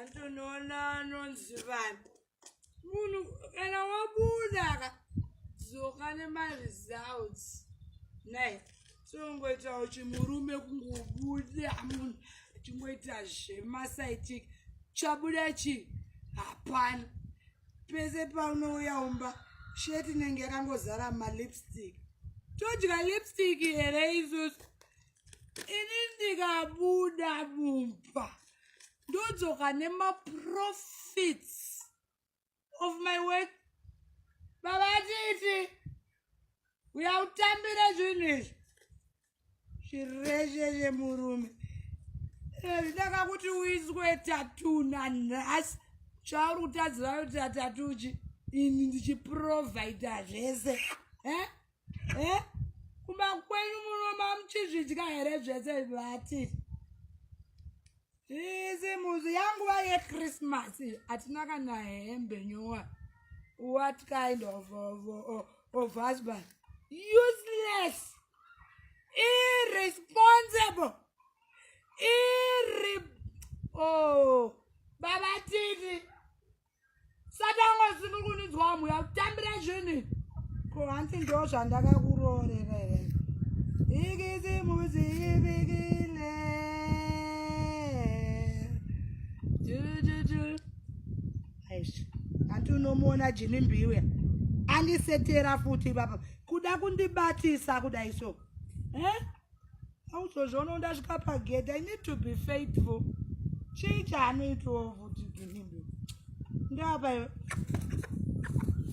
antonoona anonzi vanhu munhu kana wabudaka dzoka nemari zouts nai songoitawo chimurume kungobuda munhu achingoita zvemasaitik chabuda chii hapana pese paunouya umba sheti inenge yakangozara malipstick todya lipstick here isusu ini ndikabuda mumba ndodzoka nemaprofits of my work baba titi uya utambire zvinhu izvi zvireshe zvemurume ndaka kuti uizwe tatuna nhasi chauri kutadziva kuti atatuchi ini ndichiprovaida zvese eh? eh? kumba kwenyu munoma muchizvidya here zvese vati izi muzi yanguva yechristmas hatina kana hembe nyowa what kind of, of, of, of husband useless irresponsible irre oh babatiti satanga usini kunidzwa muya kutambira zvinhu ko hanti ndo zvandakakuroorera here ikisi muzi ibikile hanti unomuona jini mbiwe andisetera futi baba kuda kundibatisa kudai so eh? auzozviona undasvika pagedha i need to be faithful chii chaanoitawo futi ginimbe ndapa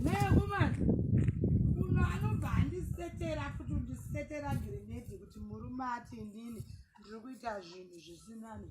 nekumana uno anobva andisetera futi undisetera grenedi kuti murume ati inini ndiri kuita zvinhu zvisinani